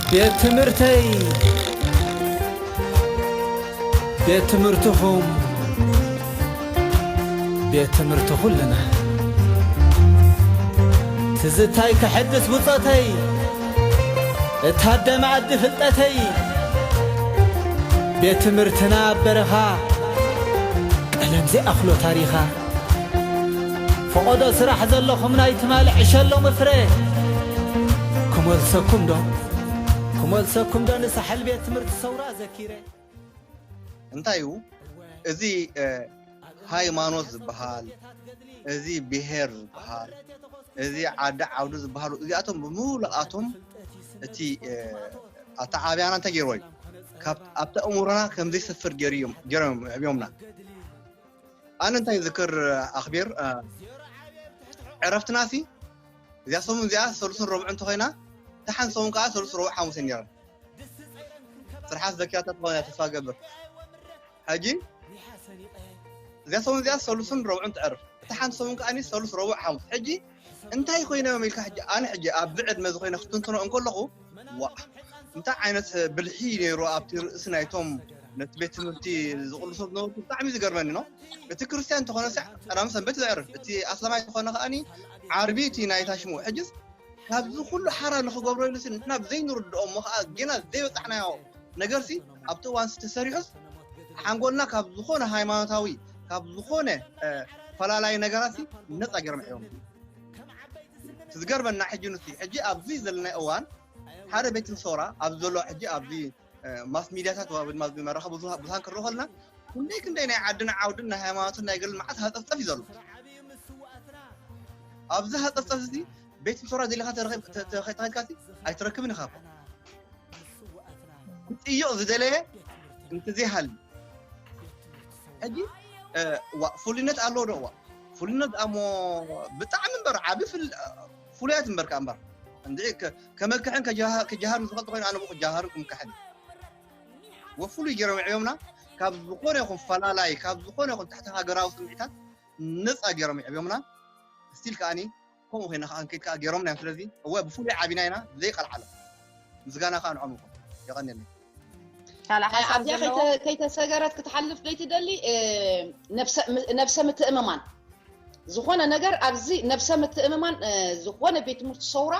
ቤት ትምህርተይ ቤት ትምህርትኹም ቤት ትምህርቲ ኹልና ትዝታይ ከሐድስ ብጾተይ እታደመ ኣዲ ፍልጠተይ ቤት ትምህርትና ኣብ በረኻ ቀለም ዘይኣኽሎ ታሪኻ ፈቆዶ ስራሕ ዘለኹም ናይ ትማሊ ዕሸ ሎሚ ፍረ ክመልሰኩም ዶ ክመልሰኩም ዶ ንሳሕል ቤት ትምህርቲ ሰውራ ዘኪረ። እንታይ እዩ እዚ ሃይማኖት ዝበሃል እዚ ብሄር ዝበሃል እዚ ዓዲ ዓውዲ ዝበሃሉ እዚኣቶም ብምሉኣቶም እቲ ኣተዓብያና እንታይ ገይርዎ እዩ ኣብቲ ኣእምሮና ከምዘይሰፍር ገይሮም እዮም የዕብዮምና ኣነ እንታይ ዝክር ኣክቢር ዕረፍትና ሲ እዚኣ ሰሙን እዚኣ ሰሉስን ረብዑ እንተኮይና እታ ሓንቲ ሰሙን ከዓ ሰሉስ ረብዑ ሓሙስ ነይራ ስርሓት ዘኪያታ ትኾነ ተስፋ ገብር ሕጂ እዚኣ ሰሙን እዚኣ ሰሉስን ረብዑን ትዕርፍ እታ ሓንቲ ሰሙን ከዓ ሰሉስ ረብዑ ሓሙስ ሕጂ እንታይ ኮይኖም ኢልካ ሕጂ ኣነ ሕጂ ኣብዚ ዕድመ እዚ ኮይነ ክትንትኖ እንከለኹ ዋእ እንታይ ዓይነት ብልሒ ነይሩ ኣብቲ ርእሲ ናይቶም ነቲ ቤት ትምህርቲ ዝቕልሶ ዝነበሩ ብጣዕሚ ዝገርመኒ ነው እቲ ክርስትያን እንተኾነ ሳዕ ቀዳሚ ሰንበት ዘዕርፍ እቲ ኣስላማይ ዝኾነ ከዓኒ ዓርቢ እቲ ናይታ ሽሙ ሕጅስ ካብዚ ኩሉ ሓራ ንኽገብሮ ኢሉሲ ንሕና ብዘይንርድኦ እሞ ከዓ ጌና ዘይበፃሕናዮ ነገርሲ ኣብቲ እዋን ስ ተሰሪሑስ ሓንጎልና ካብ ዝኾነ ሃይማኖታዊ ካብ ዝኾነ ፈላላይ ነገራት ነፃ ገይሮም ሕዎም ዝገርመና ሕጂ ን ሕጂ ኣብዚ ዘለና እዋን ሓደ ቤት ምሰውራ ኣብዚ ዘሎ ሕጂ ኣብዚ ማስ ሚድያታት ድማ መራኸቢ ብዙሃን ክረኦ ከለና ክንደይ ክንደይ ናይ ዓድን ዓውድን ናይ ሃይማኖትን ናይ ገልን መዓት ሃፀፍፀፍ እዩ ዘሎ ኣብዚ ሃፀፍፀፍ እዚ ቤት ፍቶራ ደሊኻ ተኸትካሲ ኣይትረክብን ኢኻ ክጥይቕ ዝደለየ እንተዘይሃሉ ሕጂ ፍሉይነት ኣለዎ ዶ እዋ ፍሉይነት ኣሞ ብጣዕሚ እምበር ዓብ ፍሉያት እምበር ከዓ እምበር እንድ ከመክሕን ክጀሃርን ዝፈልጥ ኮይኑ ኣነ ክጀሃርን ክምካሕን ወፍሉይ ገይሮም ይዕብዮምና ካብ ዝኾነ ይኹን ፈላላይ ካብ ዝኾነ ይኹን ትሕቲ ሃገራዊ ስምዒታት ነፃ ገይሮም ይዕብዮምና ስቲል ከዓኒ ከምኡ ኮይና ከኣ እንክድ ከኣ ገይሮምና እዮም ስለዚ እወ ብፍሉይ ዓቢና ኢና ዘይቀልዓሎም ምስጋና ከኣ ንዖም ይኹን የቀንየለይ ካልእ ሓሳብ ኣብዚኣ ዘለዎ ከይተ- ከይተሰገረት ክትሓልፍ ዘይትደሊ እ፣ ነብሰ- ም- ነብሰ ምትእምማን ዝኾነ ነገር ኣብዚ ነብሰ ምትእምማን እ፣ ዝኾነ ቤት ትምህርቲ ሰውራ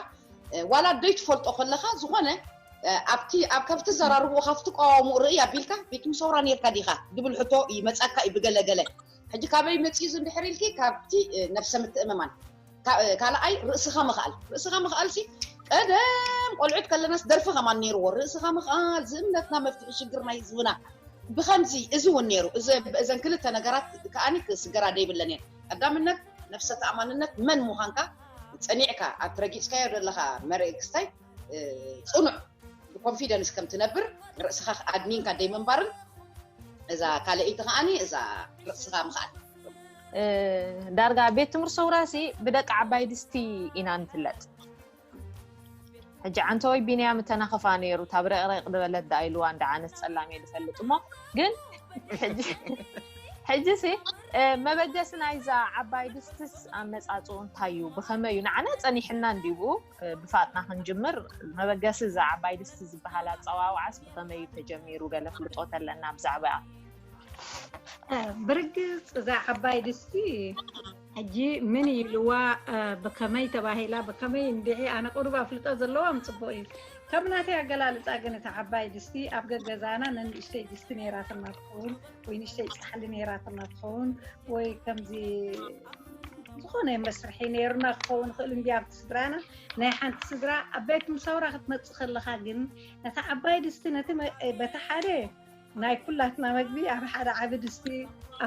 እ፣ ዋላ ደይ ትፈልጦ ከለኻ ዝኾነ እ፣ ኣብቲ ኣብ ካብ ትዘራርብኡ ካብ ትቀዋወሙ ርእይ ኣቢልካ ቤት ትምህርቲ ሰውራ ነርካ ዲኻ ዝብል ሕቶ ይመጻካ እዩ ብገለገለ ሕጂ ካበይ መጺኡ እዚ እንድሕር ኢልኪ ካብቲ ነብሰ ምትእምማን ካልኣይ ርእስኻ ምኽኣል ርእስኻ ምኽኣል ሲ ቀደም ቆልዑት ከለናስ ደርፊ ከማን ነይርዎ ርእስኻ ምኽኣል ዝእምነትና መፍትሒ ሽግር ናይ ህዝብና ብከምዚ እዚ እውን ነይሩ እዘን ክልተ ነገራት ከዓኒ ክስገራ ደይብለን እየን ቀዳምነት ነብሰ ተኣማንነት መን ምዃንካ ጸኒዕካ ኣብቲ ረጊጽካዮ ዘለኻ መርእ ክስታይ ፅኑዕ ብኮንፊደንስ ከም ትነብር ርእስኻ ኣድኒንካ ደይምንባርን እዛ ካልኣይቲ ከዓኒ እዛ ርእስኻ ምኽኣል ዳርጋ ቤት ትምህርቲ ሰውራሲ ብደቂ ዓባይ ድስቲ ኢና ንፍለጥ ሕጂ ዓንተወይ ቢንያም እተናኸፋ ነይሩ እታ ብረቕረቕ ድበለት ዳኣ ኢልዋ እንዳ ዓነት ፀላም እየ ዝፈልጥ እሞ ግን ሕጂ ሲ መበገሲ ናይዛ ዓባይ ድስትስ ኣመፃፅኡ እንታይ እዩ ብኸመይ እዩ ንዓና ፀኒሕና እንዲብኡ ብፋጥና ክንጅምር መበገሲ እዛ ዓባይ ድስቲ ዝበሃል ኣፀዋውዓስ ብኸመይ እዩ ተጀሚሩ ገለ ፍልጦ ተለና ብዛዕባ ብርግፅ እዛ ዓባይ ድስቲ ሕጂ ምን ኢልዋ ብከመይ ተባሂላ ብከመይ እንድዒ ኣነ ቅሩብ ኣፍልጦ ዘለዎም ፅቡቅ እዩ ከም ናተይ ኣገላልፃ ግን እቲ ዓባይ ድስቲ ኣብ ገገዛና ነንእሽተይ ድስቲ ነይራትና ትኸውን ወይ ንሽተይ ፃሕሊ ነይራትና ትኸውን ወይ ከምዚ ዝኾነ መስርሒ ነይርና ክኸውን ይኽእል እምቢ ኣብቲ ስድራና ናይ ሓንቲ ስድራ ኣባይ ክምሳውራ ክትመፅእ ከለኻ ግን ነቲ ዓባይ ድስቲ ነቲ በቲ ሓደ ናይ ኩላትና መግቢ ኣብ ሓደ ዓቢ ድስቲ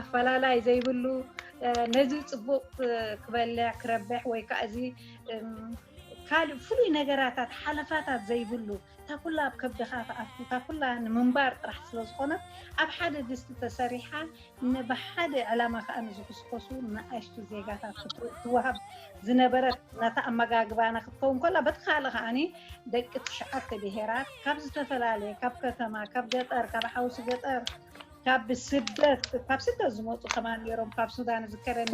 ኣፈላላይ ዘይብሉ ነዚ ፅቡቅ ክበልዕ ክረብሕ ወይ ከዓ እዚ ካልእ ፍሉይ ነገራታት ሓለፋታት ዘይብሉ እታ ኩላ ኣብ ከብድኻ ትኣቱ እታ ኩላ ንምንባር ጥራሕ ስለ ዝኾነት ኣብ ሓደ ድስቲ ተሰሪሓ ብሓደ ዕላማ ከኣ ንዝኹስኮሱ ንኣሽቱ ዜጋታት ክትወሃብ ዝነበረት ነታ ኣመጋግባና ክትከውን ከላ በቲ ካልእ ከኣ ደቂ ትሽዓተ ብሄራት ካብ ዝተፈላለየ ካብ ከተማ ካብ ገጠር ካብ ሓውሲ ገጠር ካብ ስደት ካብ ስደት ዝመፁ ከማ ነይሮም ካብ ሱዳን ዝከረኒ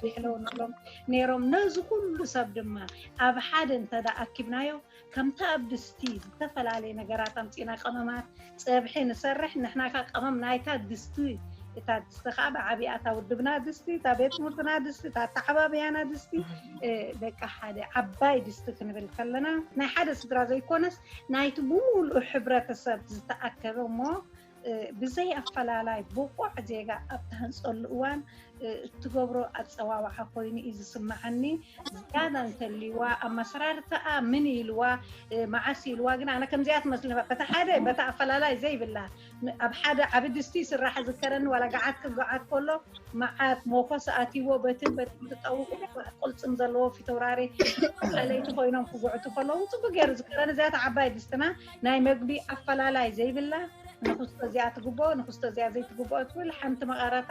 ይሕለውንሎም ነይሮም ነዚ ኩሉ ሰብ ድማ ኣብ ሓደ እንተ ኣኪብናዮ ከምታ ኣብ ድስቲ ዝተፈላለየ ነገራት ኣምጺና ቀመማት ጸብሒ ንሰርሕ ንሕና ከኣ ቀመም ናይታ ድስቲ እታ ድስቲ ከኣ ብዓቢኣ እታ ውድብና ድስቲ እታ ቤት ትምህርትና ድስቲ እታ ኣተዓባብያና ድስቲ ደቂ ሓደ ዓባይ ድስቲ ክንብል ከለና ናይ ሓደ ስድራ ዘይኮነስ ናይቲ ብምሉእ ሕብረተሰብ ዝተኣከበ እሞ ብዘይ ኣፈላላይ ብቑዕ ዜጋ ኣብ ትሃንጸሉ እዋን እትገብሮ ኣጸዋውዓ ኮይኑ እዩ ዝስምዓኒ። ዝያዳ እንተልዩዋ ኣመሰራርታኣ ምን ኢልዋ መዓስ ኢልዋ ግን ኣነ ከምዚኣ ትመስለኒ በታ ሓደ በታ ኣፈላላይ ዘይብላ ኣብ ሓደ ዓቢ ድስቲ ይስራሕ ዝከረኒ ዋላ ገዓት ክገዓት ከሎ መዓት ሞኮስ ኣትይዎ በትን በትን ትጠውቁ ቁልጽም ዘለዎ ፊተውራሪ ኣለይቲ ኮይኖም ክጉዕቱ ከለዉ ጽቡቅ ገይሩ ዝከረኒ እዚኣ ዓባይ ድስትና ናይ መግቢ ኣፈላላይ ዘይብላ ንኽስቶ እዚኣ ትግብኦ ንኽስቶ እዚኣ ዘይትግብኦ ኣይትብል ሓንቲ መቐረታ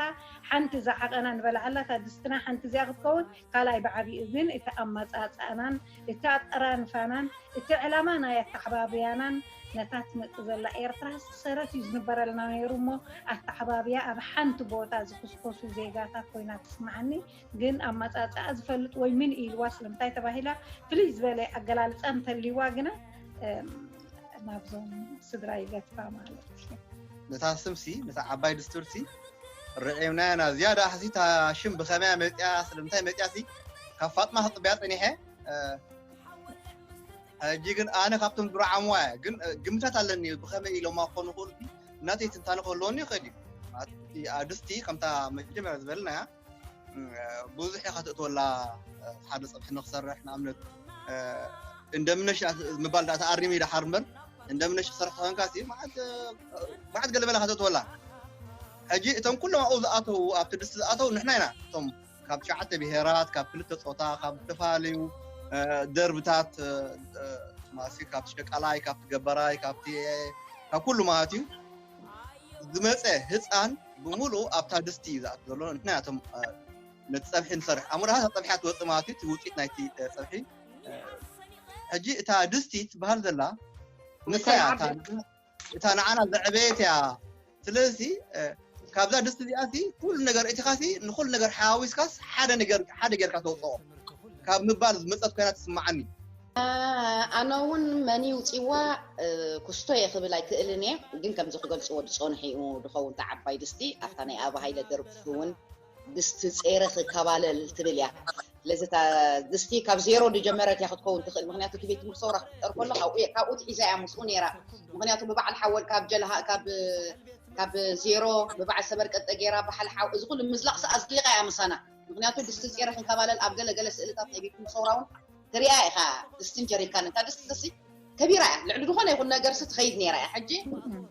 ሓንቲ ዝዓቐና ንበልዓላ እታ ድስትና ሓንቲ እዚኣ ክትከውን ካልኣይ ብዓቢኡ ግን እቲ ኣመጻጽኣናን እቲ ኣጠራንፋናን እቲ ዕላማ ናይ ኣተዓባብያናን ነታ ትመጽእ ዘላ ኤርትራ ሰረት እዩ ዝንበረልና ነይሩ እሞ ኣተዓባብያ ኣብ ሓንቲ ቦታ ዝኹስኮሱ ዜጋታት ኮይና ትስምዓኒ ግን ኣመፃፅኣ ዝፈልጥ ወይ ምን ኢልዋ ስለምንታይ ተባሂላ ፍልይ ዝበለ ኣገላልፃ እንተልይዋ ግና ናብዞም ስድራ ይገትፋ ማለት እዩ። ነታ ስምሲ ነታ ዓባይ ድስቱርሲ ርዒምናያ ናብ ዝያዳ ሓሲታ ሽም ብኸመያ መፅያ ስለምንታይ መፅያሲ ካብ ፋጥማ ክፅበያ ፀኒሐ ሕጂ ግን ኣነ ካብቶም ዝረዓምዋ እያ ግን ግምታት ኣለኒ ብኸመይ ኢሎማ ክኾኑ ክእሉ እናተይ ትንታነ ክህልወኒ ይኽእል እዩ ኣድስቲ ከምታ መጀመርያ ዝበልናያ ብዙሕ ኢኻ ትእትወላ ሓደ ፀብሒ ንክሰርሕ ንኣብነት እንደምነሽ ምባል ዳኣ ተኣሪሙ እዩ ደሓር እምበር እንደምነሽ ክሰርሕ ተኮንካ ሲ መዓት ገለ መለ ኢኻ ትእትወላ ሕጂ እቶም ኩሎም ኣብኡ ዝኣተዉ ኣብቲ ድስቲ ዝኣተዉ ንሕና ኢና እቶም ካብ ትሽዓተ ብሄራት ካብ ክልተ ፆታ ካብ ዝተፈላለዩ ደርብታት ማሲ ካብቲ ሸቃላይ ካብቲ ገበራይ ካብቲ ካብ ኩሉ ማለት እዩ ዝመጸ ህጻን ብምሉኡ ኣብታ ድስቲ እዩ ዝኣቱ ዘሎ ምክንያቱም ነቲ ጸብሒ ንሰርሕ ኣብ ሞዳ ጸብሒ ትወጽእ ማለት እዩ እቲ ውጽኢት ናይቲ ጸብሒ ሕጂ እታ ድስቲ ትበሃል ዘላ ንሳ እያ እታ ንዓና ዘዕበየት እያ ስለዚ ካብዛ ድስቲ እዚኣ ሲ ኩሉ ነገር እቲኻ ሲ ንኩሉ ነገር ሓዋዊስካስ ሓደ ነገር ሓደ ጌርካ ተውፅኦ ካብ ምባል ዝመፀት ኮይና ትስማዓኒ ኣነ እውን መን ውፅዋ ኩስቶ እየ ክብል ኣይክእልን እየ ግን ከምዚ ክገልፅዎ ዝፀንሑ እዩ ዝኸውን እቲ ዓባይ ድስቲ ኣብታ ናይ ኣብ ሃይለ ደርፊ እውን ድስቲ ፀይረ ክከባለል ትብል እያ ስለዚ እታ ድስቲ ካብ ዜሮ ዝጀመረት እያ ክትከውን ትኽእል ምክንያቱ እቲ ቤት ትምህርቲ ሰውራ ክትጠር ከሎ ካብኡ ትሒዛ እያ ምስኡ ነይራ ምክንያቱ ብበዓል ሓወል ካብ ጀልሃ ካብ ካብ ዜሮ ብበዓል ሰበር ቀጠ ገይራ በዓል ሓው እዚ ኩሉ ምዝላቕ ሰ ኣዝሊቓ እያ ምሳና ምክንያቱ ድስቲ ፀይረ ክንከባለል ኣብ ገለገለ ስእልታት ናይ ቤት ትምህርቲ ሰውራ እውን ትሪኣ ኢኻ ድስትን ጀሪካንን እታ ድስቲ እዚሲ ከቢራ እያ ልዕሊ ዝኾነ ይኹን ነገርሲ ትኸይድ ነይራ እያ ሕጂ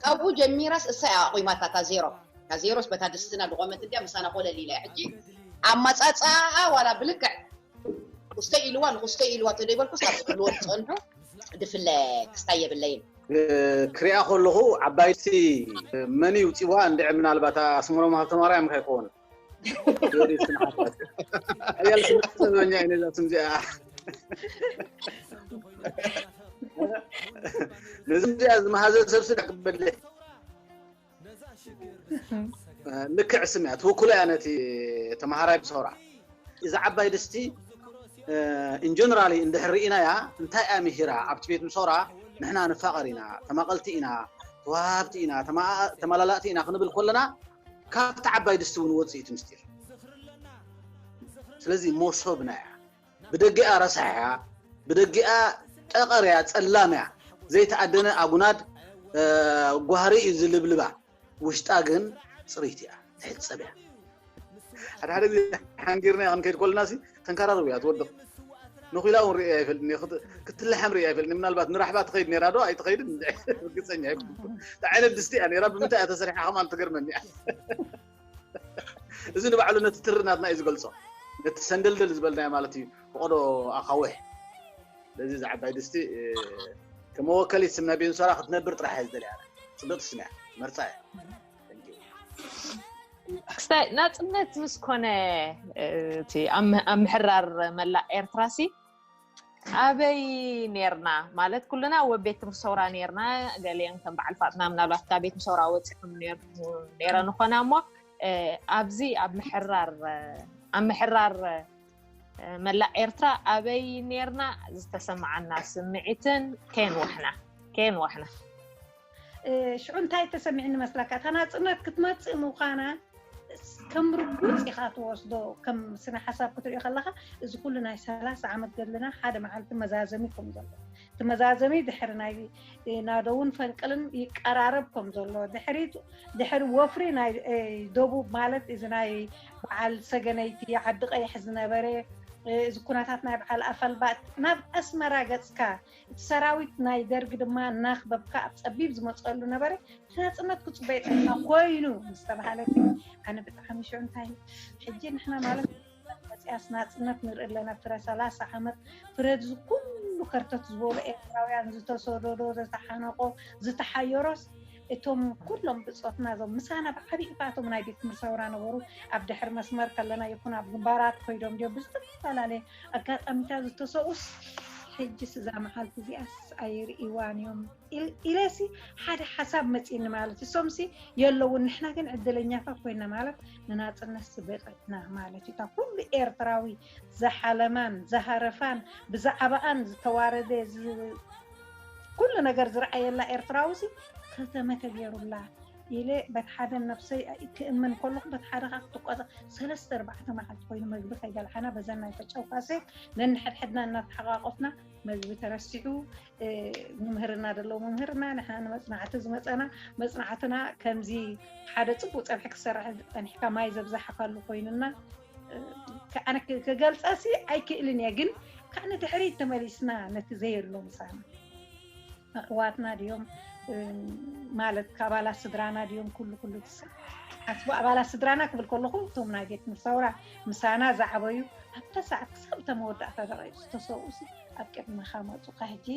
ካብኡ ጀሚራስ እሳ እያ ኣቑማታ እታ ዜሮ እታ ዜሮስ በታ ድስትና ድቖመት እንድያ ምሳና ኮለል ኢላ እያ ሕጂ ኣማጻጽኣኣ ዋላ ብልክዕ ኩስተይ ኢልዋ ንኹስተይ ኢልዋ ተደይበልኩስ ካብ ዝብልዎ ዝጸንሑ ድፍለ ክስታይ የብለይን ክሪኣ ከለኹ ዓባይ ድስቲ መን እዩ ውጺዋ እንድዒ ምናልባት ኣስመሮም ሃብተማርያም ከይኮውን ጆሪ ስምዓት ሓያል ስራሕ ሰማኛ እዩ ነዛ ስም እዚኣ ነዚ እዚኣ ዝመሃዘ ሰብ ስለ ክበለ ልክዕ ስም እያ ትውክሎ እያ ነቲ ተምሃራይ ብሰውራ እዚ ዓባይ ድስቲ ኢንጀነራሊ እንድሕር ርኢናያ እንታይ እያ ምሂራ ኣብቲ ቤት ምሰውራ ንሕና ንፋቐር ኢና ተማቐልቲ ኢና ተዋሃብቲ ኢና ተመላላእቲ ኢና ክንብል ከለና ካብቲ ዓባይ ድስቲ እውን ወጽእ እቲ ምስጢር። ስለዚ ሞሶብና እያ። ብደጊኣ ረሳሕ እያ፣ ብደጊኣ ጠቐር እያ፣ ጸላም እያ። ዘይተኣደነ ኣጉናድ ጓህሪ እዩ ዝልብልባ። ውሽጣ ግን ጽርይቲ እያ፣ ትሕጸብ እያ። ሓደ ሓደ ግዜ ሓንጊርናያ ክንከይድ ከለናሲ ተንካራሪ ውያት ወድቅ ንኩላ እውን ርእየ ኣይፈልጥን እየ ክትልሓም ርእየ ኣይፈልጥን ምናልባት ንራሕባ ትኸይድ ነራ ዶ ኣይትኸይድን ርግፀኛ ኣይኮንኩን እንታይ ዓይነት ድስቲ እያ ነራ ብምንታይ እያ ተሰሪሓ ከምኣ ትገርመኒ እያ እዚ ንባዕሉ ነቲ ትሪ ናትና እዩ ዝገልፆ ነቲ ሰንደልደል ዝበልናዮ ማለት እዩ ፈቐዶ ኣኻውሕ ስለዚ እዚ ዓባይ ድስቲ ከመወከሊት ስም ናይ ቤንሶራ ክትነብር ጥራሕ እየ ዝደልያ ፅብቕቲ ስም እያ መርፃ እያ ክስታይ ናፅነት ምስ ኮነ እቲ ኣብ ምሕራር መላእ ኤርትራ ሲ ኣበይ ነርና ማለት ኩልና ወብ ቤት ትምህርቲ ሰውራ ነርና ገሊኦም ከም በዓል ፋጥና ምናልባት ካብ ቤት ሰውራ ወፂኹም ነረ ንኾና እሞ ኣብዚ ኣብ ምሕራር ኣብ ምሕራር መላእ ኤርትራ ኣበይ ነርና ዝተሰማዓና ስምዒትን ከየንዋሕና ከየንዋሕና ሽዑ እንታይ ተሰሚዕኒ መስለካ እታ ናጽነት ክትመጽእ ምዃና ከም ርጉጽ ኢኻ ትወስዶ ከም ስነ ሓሳብ ክትሪኦ ከለካ እዚ ኩሉ ናይ ሰላሳ ዓመት ገድልና ሓደ መዓልቲ መዛዘሚ ከም ዘሎ እቲ መዛዘሚ ድሕሪ ናይ ናደውን ፈንቅልን ይቀራረብ ከም ዘሎ ድሕሪ ወፍሪ ናይ ደቡብ ማለት እዚ ናይ በዓል ሰገነይቲ ዓዲ ቀይሕ ዝነበረ እዚ ኩነታት ናይ በዓል ኣፈልባጥ ናብ ኣስመራ ገጽካ እቲ ሰራዊት ናይ ደርግ ድማ እናክበብካ ኣብ ፀቢብ ዝመፀሉ ነበረ። እቲ ናፅነት ክፅበዮ ጥዕና ኮይኑ ምስ ተብሃለ ግን ኣነ ብጣዕሚ ሽዑ እንታይ ሕጂ ንሕና ማለት መፅያስ ናፅነት ንርኢ ኣለና ፍረ ሰላሳ ዓመት ፍረ እዚ ኩሉ ከርተት ዝበሉ ኤርትራውያን ዝተሰደዶ ዝተሓነቆ ዝተሓየሮስ እቶም ኩሎም ብፆትና እዞም ምሳና ብዓብይ እቶም ናይ ቤት ትምህርቲ ሰውራ ነበሩ ኣብ ድሕሪ መስመር ከለና ይኹን ኣብ ግንባራት ኮይዶም ድዮም ብዝተፈላለየ ኣጋጣሚ እታ ዝተሰቁስ ሕጅስ እዛ መዓልቲ እዚኣስ ኣይርእይዋን እዮም ኢለሲ ሓደ ሓሳብ መፂኒ ማለት እዩ እሶምሲ የለውን ንሕና ግን ዕድለኛታት ኮይና ማለት ንናፅነት ስበቂዕና ማለት እዩ እታ ኩሉ ኤርትራዊ ዝሓለማን ዝሃረፋን ብዛዕባኣን ዝተዋረደ ኩሉ ነገር ዝረኣየላ ኤርትራዊ ሲ ከተመ ተገይሩላ ኢለ በቲ ሓደ ነብሰይ ክእመን ከለኹ በቲ ሓደ ከዓ ክትቋፀ ሰለስተ ኣርባዕተ መዓልቲ ኮይኑ መግቢ ከይበልዓና በዘን ናይ ፈጨው ካሴት ነንሕድሕድና እናተሓቋቆፍና መግቢ ተረሲዑ ምምህርና ደለዎ ምምህርና ንሕና ንመፅናዕቲ ዝመፀና መፅናዕትና ከምዚ ሓደ ፅቡቅ ፀብሒ ክሰራሕ ፀኒሕካ ማይ ዘብዛሓካሉ ኮይኑና ኣነ ክገልፀሲ ኣይክእልን እየ ግን ካብ ንድሕሪት ተመሊስና ነቲ ዘየሎ ምሳና ኣሕዋትና ድዮም ማለት ካብ ኣባላት ስድራና ድዮም ኩሉ ኩሉ ትስብ ሓስቡ ኣባላት ስድራና ክብል ከለኹ እቶም ናይ ቤት ምሳውራ ምሳና ዝዓበዩ ኣብታ ሰዓት ክሳብ እታ መወዳእታ ደቂቕ ዝተሰብኡሲ ኣብ ቅድመኻ መፁካ ሕጂ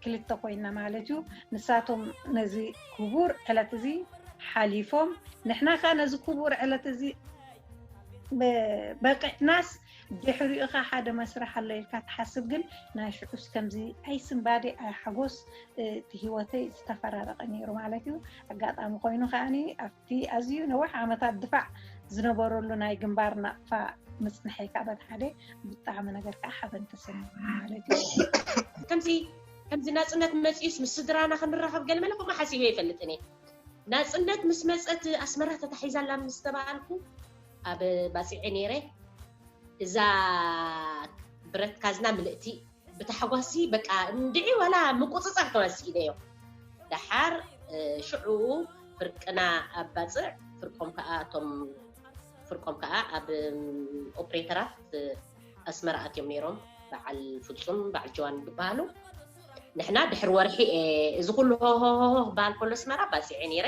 ክልተ ኮይና ማለት እዩ ንሳቶም ነዚ ክቡር ዕለት እዚ ሓሊፎም ንሕና ከዓ ነዚ ክቡር ዕለት እዚ በቂዕናስ ድሕሪኡኻ ሓደ መስርሕ ኣሎ ኢልካ ትሓስብ ግን ናይ ሽዑስ ከምዚ ኣይ ስንባዴ ኣይ ሓጎስ እቲ ሂወተይ ዝተፈራረቀ ኔሩ ማለት እዩ ኣጋጣሚ ኮይኑ ከኣ ኣብቲ ኣዝዩ ነዊሕ ዓመታት ድፋዕ ዝነበረሉ ናይ ግንባር ናቅፋ ምጽንሐይ ከኣ በቲ ሓደ ብጣዕሚ ነገር ከኣ ሓበን ተሰሚዑ ማለት እዩ ከምዚ ከምዚ ናጽነት መጽዩስ ምስ ስድራና ክንራኸብ ገለ መለ ከምኡ ሓሲበ ኣይፈልጥን እየ ናጽነት ምስ መጸት ኣስመራ ተታሒዛ ኣላ ምስ ተባሃልኩ ኣብ ባጽዔ ነይረ እዛ ብረት ካዝና ምልእቲ ብታሕጓስሲ በቃ እንድዒ ዋላ ምቁጽጻር ከማን ሲኢነዮ ደሓር ሽዑኡ ፍርቅና ኣብ ባጽዕ ፍርቆም ከኣ እቶም ፍርቆም ከኣ ኣብ ኦፕሬተራት ኣስመራ ኣትዮም ነይሮም በዓል ፍጹም በዓል ጀዋን ዝበሃሉ ንሕና ድሕሪ ወርሒ እዚ ኩሉ ሆሆሆሆ ክበሃል ከሎ ኣስመራ ባጺዐ ነይረ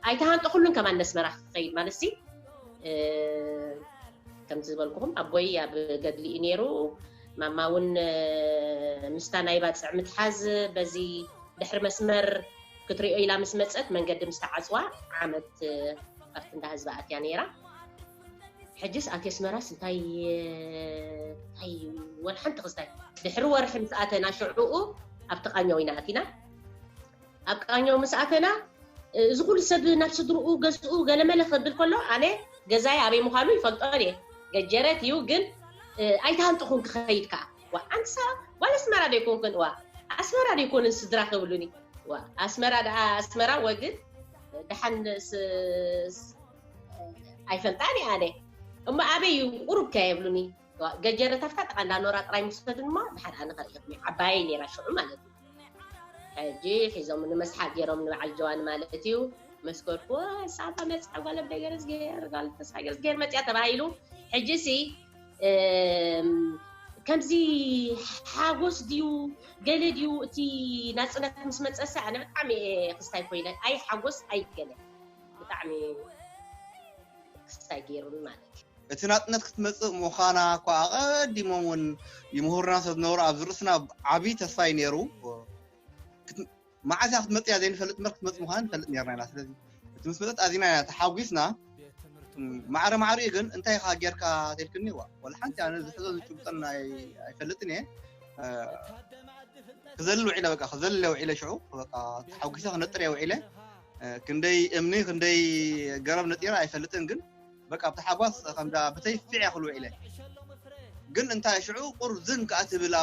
ኣይተሃንጠኹሉን ከማን ነስመራ ክኸይድ ማለት ሲ ከምቲ ዝበልኩኹም ኣቦይ ኣብ ገድሊ እዩ ነይሩ ማማ እውን ምስታ ናይ ባፅዕ ምትሓዝ በዚ ድሕሪ መስመር ክትሪኦ ኢላ ምስ መፀት መንገዲ ምስ ተዓፅዋ ዓመት ኣብቲ እንዳ ህዝቢ ኣትያ ነይራ ሕጅስ ኣቲ ኣስመራስ እንታይ እንታይ ወላ ሓንቲ ክስታይ ድሕሪ ወርሒ ምስ ኣተና ሽዑኡ ኣብቲ ቃኘው ኢና ኣቲና ኣብ ቃኘው ምስ ኣተና እዚ ኩሉ ሰብ ናብ ስድርኡ ገዝኡ ገለመለ ክብል ከሎ ኣነ ገዛይ ኣበይ ምዃኑ ይፈልጦ እየ ገጀረት እዩ ግን ኣይትሃንጥኹን ክኸይድ ከዓ ዋ ኣንቲ ሰባት ጓል ኣስመራ ዶ ይኮንክን ዋ ኣስመራ ዶ ይኮንን ስድራ ክብሉኒ ዋ ኣስመራ ደኣ ኣስመራ ወግን ደሓን ኣይፈልጣን እየ ኣነ እሞ ኣበይ እዩ ቁሩብ ከ የብሉኒ ገጀረ ተፍታ ጠቃ እንዳኖራ ጥራይ ምስፈዱን እሞ ድሓር ኣነ ከርእኹም ዓባየይ ነይራ ሽዑ ማለት እዩ ሕጂ ሒዞም ንመስሓቅ ገይሮም ንበዓል ጀዋን ማለት እዩ መስከርኩ ሳባ መፅኣ ጓል ኣቦይ ገረዝጌር ጓል ተስፋ ገረዝጌር መፅያ ተባሂሉ ሕጂ ሲ ከምዚ ሓጎስ ድዩ ገለ ድዩ እቲ ናፅነት ምስ መፀሰ ኣነ ብጣዕሚ ክስታይ ኮይነ ኣይ ሓጎስ ኣይ ገለ ብጣዕሚ ክስታይ ገይሩኒ ማለት እዩ። እቲ ናጽነት ክትመጽእ ምዃና እኳ ኣቐዲሞም እውን ይምህሩና ስለ ዝነበሩ ኣብዚ ርእስና ዓቢ ተስፋ እዩ ነይሩ። መዓስ እያ ክትመጽእ እያ ዘይንፈልጥ እምበር ክትመጽእ ምዃና ንፈልጥ ነርና ኢና። ስለዚ እቲ ምስ መጸት ኣዚና ኢና ተሓጒስና። ማዕረ ማዕሪኡ ግን እንታይ ኢኻ ጌርካ ተልክኒ ዋ ወላ ሓንቲ ኣነ ዝሕዞ ዝጭብጠን ኣይፈልጥን እየ ክዘልል ውዒለ በቃ ክዘልለ ውዒለ ሽዑ በቃ ተሓጒሰ ክነጥር እየ ውዒለ ክንደይ እምኒ ክንደይ ገረብ ነጢረ ኣይፈልጥን ግን በቃ ብታሓጓስ ከምዛ ብተይ ፊዕ ክሉ ውዒለ ግን እንታይ ሽዑ ቁር ዝን ከዓ ትብል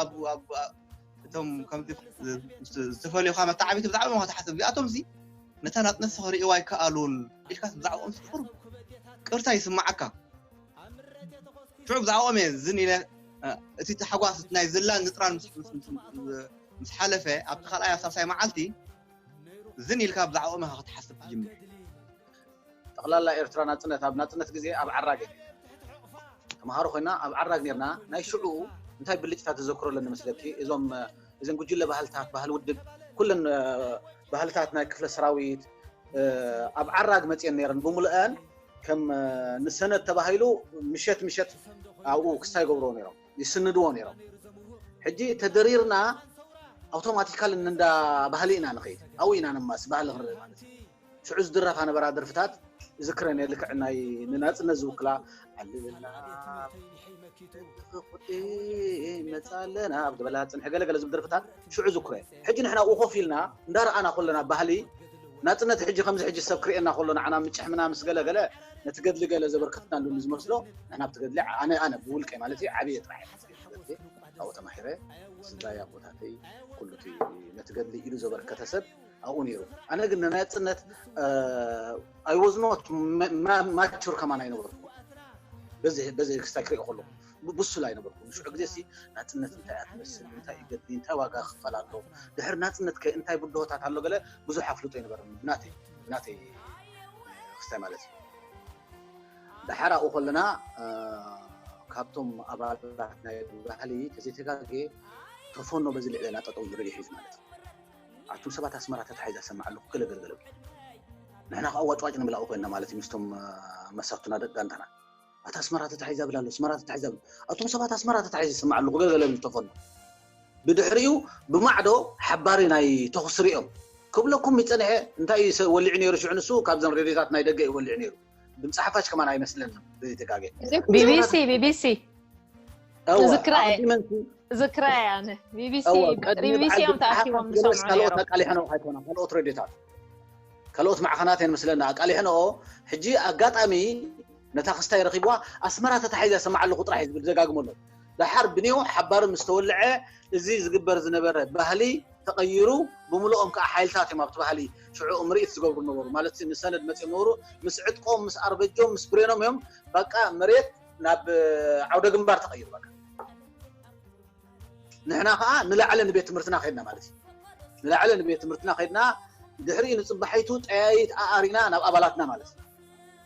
እቶም ከምዚ ዝተፈልዩካ መተዓቢቲ ብዛዕባ ሞካ ትሓስብ እዚኣቶም ዚ ነታ ናፅነት ክሪእዋ ኣይከኣሉን ኢልካ ብዛዕባኦም ስቁር ቅርታ ይስማዓካ ሽዑ ብዛዕባኦም እየ ዝን ኢለ እቲ ተሓጓስ ናይ ዝላን ዝጥራን ምስ ሓለፈ ኣብቲ ካልኣይ ኣብ ሳልሳይ መዓልቲ ዝን ኢልካ ብዛዕብኦም ኢኻ ክትሓስብ ትጅምር። ጠቕላላ ኤርትራ ናጽነት ኣብ ናጽነት ግዜ ኣብ ዓራግ እያ። ተማሃሮ ኮይና ኣብ ዓራግ ኔርና ናይ ሽዑ እንታይ ብልጭታ ተዘክሮ ኣለኒ መስለኪ እዞም እዘን ጉጅለ ባህልታት ባህል ውድብ ኩለን ባህልታት ናይ ክፍለ ሰራዊት ኣብ ዓራግ መፅየን ነይረን ብምሉአን ከም ንሰነት ተባሂሉ ምሸት ምሸት ኣብኡ ክስታ ይገብርዎ ነይሮም ይስንድዎ ነይሮም ሕጂ ተደሪርና ኣውቶማቲካል እንዳ ባህሊ ኢና ንኸይድ ኣብኡ ኢና ንማስ ባህሊ ክርኢ ማለት እዩ ሽዑ ዝድረፋ ነበራ ደርፍታት እዝክረን እየ ልክዕ ናይ ንናፅነት ዝውክላ ኣለለና መፃለና ብዝበላ ፅንሒ ገለገለ ዝብል ደርፍታት ሽዑ ዝኩረ ሕጂ ንሕና ኡኡ ኮፍ ኢልና እንዳ ረኣና ኮለና ባህሊ ናጽነት ሕጂ ከምዚ ሕጂ ሰብ ክርእየና ኮሎ ንዓና ምጭሕምና ምስ ገለ ገለ ነቲ ገድሊ ገለ ዘበርከትናሉ ንዝመስሎ ንሕና ኣብቲ ገድሊ ኣነ ኣነ ብውልቀይ ማለት እዩ ዓብየ ጥራሕ ኣብኡ ተማሒረ ስድራይ ኣቦታተይ ኩሉ እቲ ነቲ ገድሊ ኢሉ ዘበርከተ ሰብ ኣብኡ ነይሩ ኣነ ግን ንናጽነት ኣይወዝኖት ማቹር ከማን ኣይነበርኩ በዚ ክስታይ ክሪኦ ከለኩ ብሱል ኣይነበርኩን ሽዑ ግዜ ሲ ናጽነት እንታይ እያ ትመስል እንታይ እዩ ገድሊ እንታይ ዋጋ ክፈል ኣሎ ድሕሪ ናጽነት ከ እንታይ ብድሆታት ኣሎ ገለ ብዙሕ ኣፍልጦ ይነበረኒ ብናተይ ብናተይ ክስታይ ማለት እዩ ድሓር ኣብኡ ከለና ካብቶም ኣባላት ናይ ባህሊ ተዘይተጋገ ተፈኖ በዚ ልዕለና ጠጠው ዝርኢ ሒዙ ማለት እዩ ኣቱም ሰባት ኣስመራ ተታሒዛ ሰማዕ ኣለኩ ገለገልገለ ንሕና ከዓ ዋጭዋጭ ንብላኡ ኮይና ማለት እዩ ምስቶም መሳቱና ደቂ ጋንታና ኣታ ኣስመራ ተታሒዛ ብላ ኣሎ ኣስመራ ተታሒዛ ብላ ኣቶም ሰባት ኣስመራ ተታሒዛ ዝስምዕ ኣለኹ ገለገለ ዝብል ተፈኑ ብድሕሪኡ ብማዕዶ ሓባሪ ናይ ተኹሲ ሪኦም ክብለኩም ይፀንሐ እንታይ እዩ ወሊዑ ነይሩ ሽዑ ንሱ ካብዘን ሬድዮታት ናይ ደገ እዩ ወሊዑ ነይሩ ድምፂ ሓፋሽ ከማን ኣይመስልን ዘይተጋገ ቢቢሲ ቢቢሲ ዝክራ ዝክራ እያ ቢቢሲ ቢቢሲ እዮም ተኣኪቦም ዝሰምዑ ካልኦት ኣቃሊሐን ኣይኮነ ካልኦት ሬድዮታት ካልኦት ማዕኸናት እየን ምስለና ኣቃሊሐንኦ ሕጂ ኣጋጣሚ ነታ ክስታይ ረኺብዋ ኣስመራ ተታሒዛ ይሰማዕ ኣለኹ ጥራሕ እዩ ዝብል ይደጋግሞ ኣሎ። ደሓር ብኔው ሓባሪ ምስ ተወልዐ እዚ ዝግበር ዝነበረ ባህሊ ተቐይሩ ብምሉኦም ከኣ ሓይልታት እዮም ኣብቲ ባህሊ ሽዑኡ ምርኢት ዝገብሩ ዝነበሩ ማለት ንሰነድ መጺኦም ነበሩ ምስ ዕጥቆም ምስ ኣርበጆም ምስ ብሬኖም እዮም በቃ መሬት ናብ ዓውደ ግንባር ተቐይሩ በቃ ንሕና ከዓ ንላዕሊ ንቤት ትምህርትና ከድና ማለት እዩ ንላዕሊ ንቤት ትምህርትና ከድና ድሕሪ ንፅባሒቱ ጠያይት ኣኣሪና ናብ ኣባላትና ማለት እዩ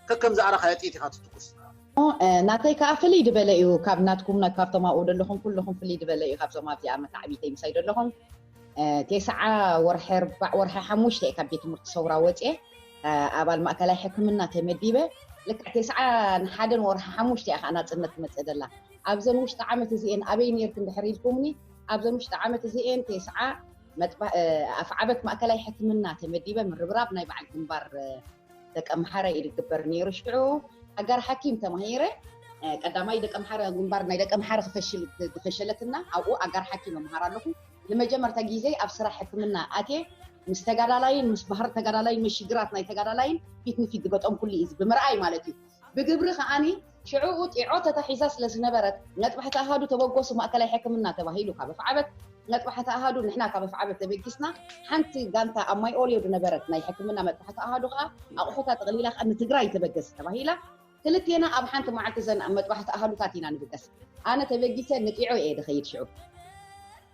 ከከም ዝኣረካዮ ጥይት ኢካ ትትኩስ ናተይ ከዓ ፍልይ ድበለ እዩ ካብ ናትኩም ካብቶም ኣብኡ ዘለኹም ኩልኹም ፍልይ ድበለ እዩ ካብዞም ኣብዚኣ መታዕቢተይ ምሳይ ዘለኹም ቴስዓ ወርሒ ኣርባዕ ወርሒ ሓሙሽተ እየ ካብ ቤት ትምህርቲ ሰውራ ወፅየ ኣባል ማእከላይ ሕክምና ተመዲበ ልክዕ ቴስዓ ንሓደን ወርሒ ሓሙሽተ እያ ከዓ ናፅነት ትመፅእ ዘላ ኣብዘን ውሽጢ ዓመት እዚኤን ኣበይ ኔርኪ እንድሕር ኢልኩምኒ ኣብዘን ውሽጢ ዓመት እዚኤን ቴስዓ ኣፍዓበት ማእከላይ ሕክምና ተመዲበ ምርብራብ ናይ በዓል ግንባር ደቂ ኣምሓረ እዩ ዝግበር ነይሩ ሽዑ ኣጋር ሓኪም ተማሂረ ቀዳማይ ደቂ ኣምሓረ ግንባር ናይ ደቂ ኣምሓረ ክፈሽል ዝፈሸለትና ኣብኡ ኣጋር ሓኪም እምሃር ኣለኹ ንመጀመርታ ግዜ ኣብ ስራሕ ሕክምና ኣትየ ምስ ተጋዳላይን ምስ ባህር ተጋዳላይን ምስ ሽግራት ናይ ተጋዳላይን ፊት ንፊት ዝገጠምኩሉ እዩ ብምርኣይ ማለት እዩ ብግብሪ ከኣ ሽዕኡ ጢዖ ተታሒዛ ስለ ዝነበረት መጥባሕቲ ኣሃዱ ተበገሱ ማእከላይ ሕክምና ተባሂሉ ካብ ኣፍዓበት መጥባሕቲ ኣሃዱ ንሕና ካብ ኣፍዓበት ተበጊስና ሓንቲ ጋንታ ኣብ ማይ ኦልዮ ዝነበረት ናይ ሕክምና መጥባሕቲ ኣሃዱ ከኣ ኣቑሑታ ጥቕሊላ ከኣ ንትግራይ ተበገሲ ተባሂላ ክልቴና ኣብ ሓንቲ መዓልቲ ዘን ኣብ መጥባሕቲ ኣሃዱታት ኢና ንብገስ ኣነ ተበጊሰ ንጢዖ እየ ድኸይድ ሽዑ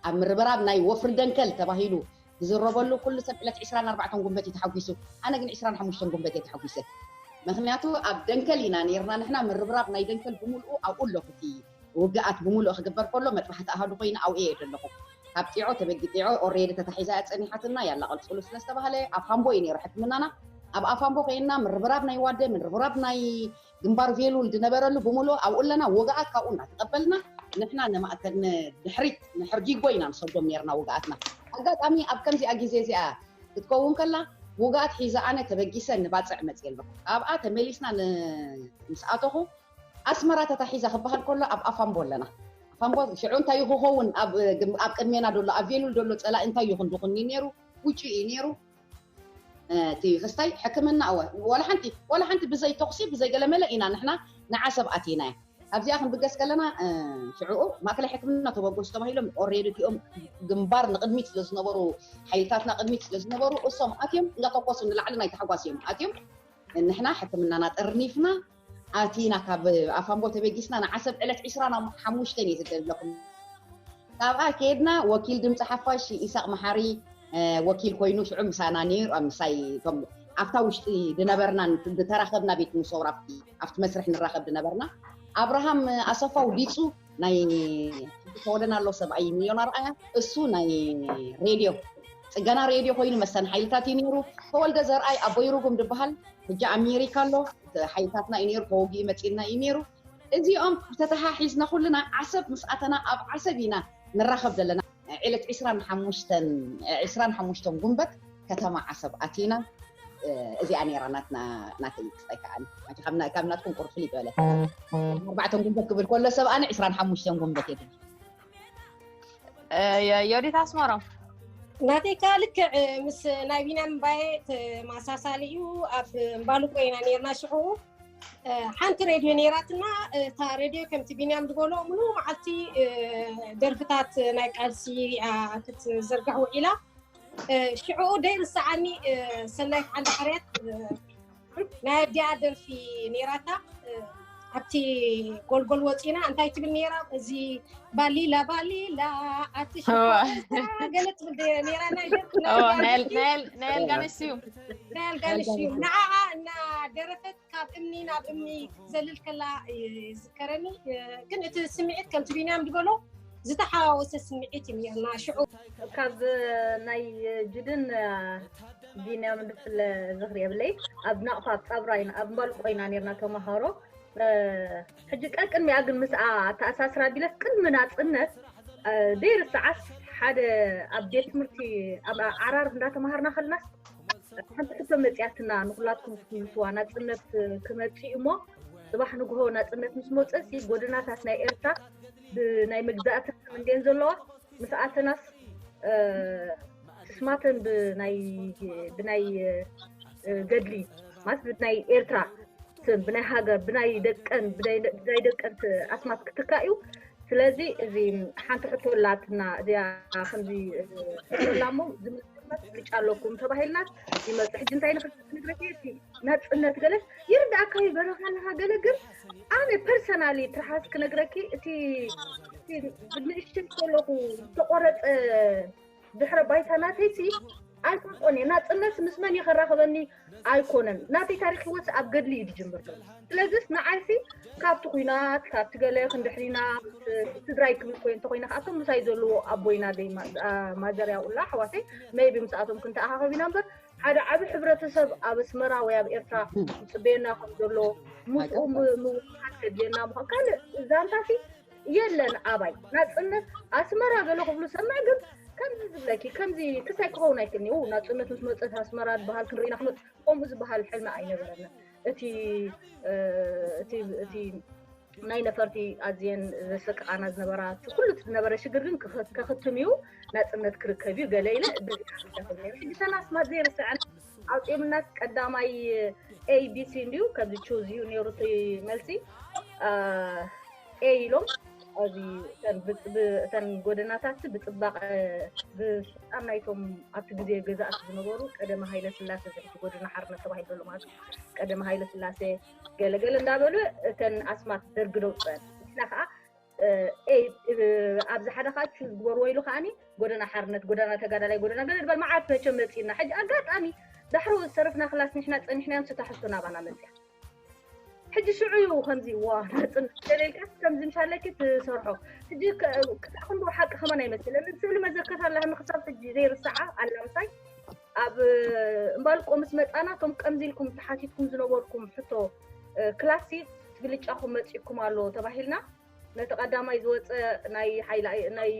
ኣብ ምርብራብ ናይ ወፍሪ ደንከል ተባሂሉ ዝዝረበሉ ኩሉ ሰብ ዕለት ዕስራን ኣርባዕተን ጉንበት እዩ ተሓጒሱ ኣነ ግን ዕስራን ሓሙሽተን ጉንበት እየ ተሓጒሰ። ምኽንያቱ ኣብ ደንከል ኢና ነይርና ንሕና ምርብራብ ናይ ደንከል ብምልኡ ኣብኡ ኣለኹ እቲ ውግኣት ብምልኡ ክግበር ከሎ መጥባሕቲ ኣሃዱ ኮይኑ ኣብኡ እየ ደለኹ ካብ ጢዖ ተበጊ ጢዖ ኦሬዲ ተታሒዛ እያ ጸኒሓትና ያላ ቀልጽሉ ስለ ዝተባህለ ኣፋምቦ እዩ ነይሩ ሕክምናና ኣብ ኣፋምቦ ኮይንና ምርብራብ ናይ ዋደ ምርብራብ ናይ ግንባር ቬሉል ዝነበረሉ ብምሉኡ ኣብኡ ኣለና ውግኣት ካብኡ እናተቐበልና ንሕና ንድሕሪት ንሕርጊጎ ኢና ንሰጎም ኔርና ውግኣትና። ኣጋጣሚ ኣብ ከምዚኣ ግዜ እዚኣ ክትከውን ከላ ውግኣት ሒዘ ኣነ ተበጊሰ ንባጽዕ መጽየ ኣለኹ። ካብኣ ተመሊስና ምስ ኣተኹ ኣስመራ ተታሒዛ ክበሃል ከሎ ኣብ ኣፋምቦ ኣለና። ኣፋምቦ ሽዑ እንታይ እዩ ክኸውን ኣብ ቅድሜና ዘሎ ኣብ ቬሉል ዘሎ ጸላኢ እንታይ እዩ ክንዲ ኩኒ ኔሩ ውጩ እዩ ኔሩ። እቲ ክስታይ ሕክምና እወ ዋላ ሓንቲ ዋላ ሓንቲ ብዘይ ተኹሲ ብዘይ ገለመለ ኢና ንሕና ንዓሰብ ኣቲናያ ኣብዚኣ ክንብገስ ከለና ሽዕኡ ማእከላይ ሕክምና ተበገሱ ተባሂሎም ኦሬዲ እቲኦም ግንባር ንቕድሚት ስለ ዝነበሩ ሓይልታትና ቅድሚት ስለ ዝነበሩ እሶም ኣትዮም እንዳተኮሱ ንላዕሊ ናይ ታሕጓስ እዮም ኣትዮም ንሕና ሕክምናና ጠርኒፍና ኣቲና ካብ ኣፋምቦ ተበጊስና ንዓሰብ ዕለት ዕስራን ኣብ ሓሙሽተን እየ ዝደለኹም ካብኣ ከድና ወኪል ድምፂ ሓፋሽ ኢሳቅ መሓሪ ወኪል ኮይኑ ሽዑ ምሳና ነይሩ ኣብ ምሳይ እቶም ኣብታ ውሽጢ ድነበርና ድተራኸብና ቤት ሙሰውራ ኣብቲ መስርሕ ንራኸብ ድነበርና ኣብርሃም ኣሰፋ ውዲፁ ናይ ተወደን ኣሎ ሰብኣይ ሚሊዮን ኣርኣያ እሱ ናይ ሬድዮ ፅገና ሬድዮ ኮይኑ መሰን ሓይልታት እዩ ነይሩ ተወልደ ዘርኣይ ኣቦይ ርጉም ድበሃል ሕጂ ኣሜሪካ ኣሎ ሓይልታትና እዩ ነይሩ ተወጊኡ መፂልና እዩ ነይሩ እዚኦም ተተሓሒዝና ኩልና ዓሰብ ምስ ኣተና ኣብ ዓሰብ ኢና ንራኸብ ዘለና ዒለት ዕስራን ሓሙሽተን ዕስራን ሓሙሽተን ጉንበት ከተማ ዓሰብ ኣቲና እዚኣ ነይራ ናትና ናተይ ክስታይ ከኣ ናቲ ካብ ና- ካብ ናትኩም ቁሩብ ፍልይ ዝበለት ኣርባዕተን ጉንበት ክብል ከሎ ሰብ ኣነ ዕስራን ሓሙሽተን ጉንበት እየ ትብል የ- ዮዲት ኣስመሮም ናተይ ከዓ ልክዕ ምስ ናይ ቢንያም እምባየ ተመሳሳሊ እዩ ኣብ እምባልቆ ኢና ነርና ሽዑ ሓንቲ ሬድዮ ነይራትና እታ ሬድዮ ከምቲ ቢንያም ዝበሎ ምሉ መዓልቲ ደርፍታት ናይ ቃልሲ ክትዝርጋሕ ውዒላ ሽዕኡ ደይርሰዓኒ ሰናይት ዓንዲ ሓርያት ናይ ኣዲኣ ደርፊ ነይራታ ኣብቲ ጎልጎል ወፂና እንታይ ትብል ነይራ እዚ ባሊላ ባሊላ ኣቲ ገለ ትብል ነይራ ናይ ደርፊ ናይ ኣልጋነሽ ስዩም ናይ ኣልጋነሽ እዩ ኣልጋነሽ። ንዓኣ እናደረፈት ካብ እምኒ ናብ እምኒ ክትዘልል ከላ ይዝከረኒ እ፣ ግን እቲ ስምዒት ከምቲ ቢንያም ዝበሎ ዝተሓዋወሰ ስምዒት እዩ ነርና ሽዑ ካብ ናይ ጅድን ቢንያም ንፍለ ዝኽሪ የብለይ ኣብ ናቕፋ ኣብ ጻብራይና ኣብ ማልቆ ኢና ነርና ተማሃሮ እ፣ ሕጂ ቀቅድሚኣ ግን ምስኣ ኣተኣሳስር ኣቢለስ ቅድሚ ናጽነት ዘይርስዓስ ሓደ ኣብ ቤት ትምህርቲ ኣብ ዓራር እንዳተማሃርና ከለናስ ሓንቲ ሕቶ መጽያትና ንኩላትኩም ክትምልስዋ ናጽነት ክመጽእ እሞ ጽባሕ ንግሆ ናጽነት ምስ መጽእሲ ጎደናታት ናይ ኤርትራ ብናይ መግዛእቲ እንዴን ዘለዋ ምስ ኣተናስ ስማተን ብናይ ብናይ ገድሊ ማለት ናይ ኤርትራ ስም ብናይ ሃገር ብናይ ደቀን ብናይ ደቀን ኣስማት ክትካእ እዩ ስለዚ እዚ ሓንቲ ሕቶ ኣላትና እዚኣ ከምዚ ሕቶላ እሞ ዝመፅመት ምርጫ ኣለኩም ተባሂልናት ይመፅ ሕጂ እንታይ ንክትነግረቲ ናፅነት ገለ ይርዳእካ እዩ በረኻ ኣለካ ገለ ግን ኣነ ፐርሰናሊ ትርሓስ ክነግረኪ እቲ ብንእሽተይ ከለኹ ዝተቆረፀ ድሕረ ባይታ ናተይሲ ኣይፈልጦን እየ። ናጽነት ምስ መን እዩ ከራኽበኒ ኣይኮነን። ናተይ ታሪኽ ህይወትሲ ኣብ ገድሊ እዩ ዝጅምር ዘሎ። ስለዚስ ንዓይሲ ካብቲ ኩናት ካብቲ ገለ ክንድሕሪና ምስ ስድራይ ክብል እኮ እየ እንተኾይነ ከኣ እቶም ምሳይ ዘለዎ ኣቦይን ኣደይ ማዘር ያቁላ ኣሕዋተይ መይቢ ምስኣቶም ክንተኣኻኸብ ኢና እምበር ሓደ ዓቢ ሕብረተሰብ ኣብ ኣስመራ ወይ ኣብ ኤርትራ ዝጽበየና ከም ዘሎ ምስኡ ምውህሃድ ከድልየና ምዃን ካልእ ዛንታሲ የለን ኣባይ ናጽነት ኣስመራ ገለ ክብሉ ሰምዕ ግን ከምዚ ዝብለኪ ከምዚ ክሳይ ክኸውን ኣይክእልኒ ው ናጽነት ምስ መጸት ኣስመራ ዝበሃል ክንርኢ ኢና ክንወጽእ ከምኡ ዝበሃል ሕልሚ ኣይነበረና እቲ እቲ እቲ ናይ ነፈርቲ ኣዝየን ዘሰቅቓና ዝነበራ ኩሉ እቲ ዝነበረ ሽግር ግን ከኽትም እዩ ናጽነት ክርከብ እዩ ገለ ኢለ ሕጂ ሰናስማት ዘይርስዐን ኣውፂኦምናስ ቀዳማይ ኤቢሲ እንድዩ ከምዚ ቹዝ እዩ ነይሩ እቲ መልሲ ኤይ ኢሎም ኣብዚ እተን ብጽ- ብ- እተን ጎደናታትሲ ብጽባቐ ብስልጣን ናይቶም ኣብቲ ግዜ ገዛእቲ ዝነበሩ ቀደመ ሃይለ ስላሴ እዚ ሕጂ ጎደና ሓርነት ተባሂሉ ዘሎ ማለት እዩ ቀደመ ሃይለ ስላሴ ገለ ገለ እንዳበሉ እተን ኣስማት ደርጊ ደውጸን ንሕና ከዓ እ፣ ኤይ እ፣ ኣብዚ ሓደ ከዓ ቹዝ ግበርዎ ኢሉ ከዓኒ ጎደና ሓርነት ጎደና ተጋዳላይ ጎደና ገለ ድበል መዓት መቸም መጺእና ሕጂ ኣጋጣሚ ዳሕሮ ዝተረፍና ክላስ ንሕና ጸኒሕናዮም ስታሕዝቶ ናባና መጽያ ሕጂ ሽዑ እዩ ከምዚ ዋ ናጽነት ስለሌልካስ ከምዚ ምሳለኪ ትሰርሖ ሕጂ ክሳዕ ክንድኡ ሓቂ ከማን ኣይመሰለንን ስእሊ መዘከር ኣላህኒ ክሳብ ሕጂ ዘይርስዓ ኣላ ምሳይ ኣብ እምባልቆ ምስ መጻና እቶም ከምዚ ኢልኩም ተሓቲትኩም ዝነበርኩም ሕቶ ክላሲ ትግልጫኹም መጺእኩም ኣሎ ተባሂልና ነቲ ቀዳማይ ዝወጸ ናይ ሓይሊ ናይ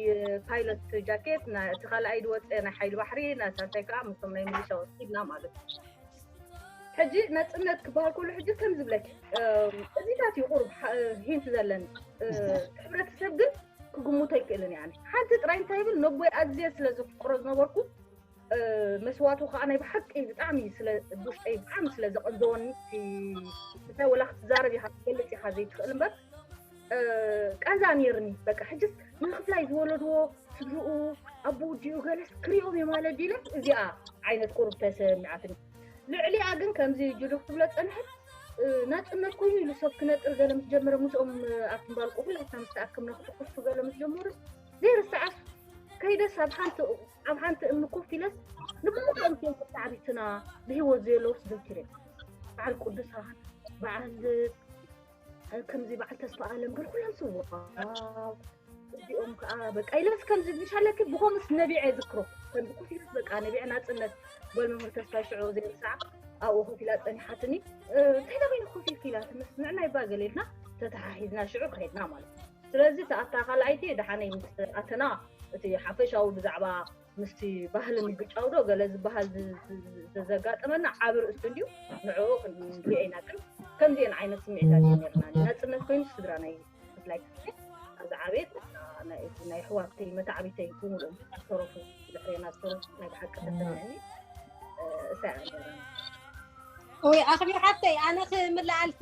ፓይሎት ጃኬት ና- እቲ ካልኣይ ዝወጸ ናይ ሓይሊ ባሕሪ ናይ ሳልሳይ ከዓ ምስቶም ናይ ሚሊሻ ወሲድና ማለት እዩ ሕጂ ነፅነት ክበሃል ከሎ ሕጂ ከም ዝብለኪ እም፣ እዚታት እዩ ቁሩብ ሓ- ሂንት ዘለኒ እ፣ ሕብረተሰብ ግን ክግምቶ ኣይክእልን እያ ሓንቲ ጥራይ እንታይ ይብል ነቦይ ኣዝየ ስለ ዘፍቅሮ ዝነበርኩ መስዋቱ ከዓ ናይ ብሓቂ ብጣዕሚ ብውሽጠይ ብጣዕሚ ስለ ዘቐንዘወኒ እንታይ ወላ ክትዛረብ ኢኻ ክትገልፅ ኢኻ ዘይትኽእል እምበር ቀንዛ ነይርኒ በቃ ሕጅስ ንክፍላይ ዝወለድዎ ስድርኡ ኣቦ ድኡ ገለስ ክሪኦም እዮም ኣለ ዲለ እዚኣ ዓይነት ቁርብ ተሰሚዓትኒ ልዕሊኣ ግን ከምዚ ጅሉ ክትብሎ ፀንሐት ናፅነት ኮይኑ ኢሉ ሰብ ክነጥር ገለ ምስ ጀመረ ምስኦም ኣብቲ ምባልቁ ኩላትና ምስ ተኣክምና ክትኩሱ ገለ ምስ ጀመሩስ ዘይርሰዓስ ከይደስ ኣብ ሓንቲ ኣብ ሓንቲ እምኒ ኮፍ ኢለስ ንብዙሕ እምትዮም ክሳዕሪትና ብሂወት ዘየለውስ ዘኪረ በዓል ቅዱሳን በዓል ከምዚ በዓል ተስፋ ኣለም ግን ኩሎም ስውራ እዚኦም ከዓ በቃ ኢለስ ከምዚ ምሻለኪ ብኮምስ ነቢዐ ዝክሮ ከምዚ ኮፍ ኢለስ በቃ ነቢዐ ናፅነት ጓል መምህር ተስፋ ሽዑ ዘይርሳዕ ኣብኡ ኮፍ ኢላ ፀኒሓትኒ እንታይ ናበይኒ ኮፍ ኢልኪ ኢላ ትምስ ንዕናይ ባ ገለ ኢልና ተተሓሒዝና ሽዑ ከይድና ማለት እዩ ስለዚ ተኣታ ካልኣይቲ ደሓነይ ምስ ኣተና እቲ ሓፈሻዊ ብዛዕባ ምስቲ ባህሊ ምግጫው ዶ ገለ ዝበሃል ዘጋጠመና ዓብ ርእስቲ እንድዩ ንዕኡ ክንሪኦ ኢና ግን ከምዚኤን ዓይነት ስምዒታት እዩ ነርና ናፅነት ኮይኑ ስድራ ናይ ብፍላይ ዝዓበየት ናይ ኣሕዋተይ መታዕቢተይ ብምሉኦም ዝተረፉ ድሕሬና ዝተረፉ ናይ ብሓቂ ተሰሚዐኒ እሳ እያ ወይ ኣኽቢር ሓፍተይ ኣነ ክምልኣልኪ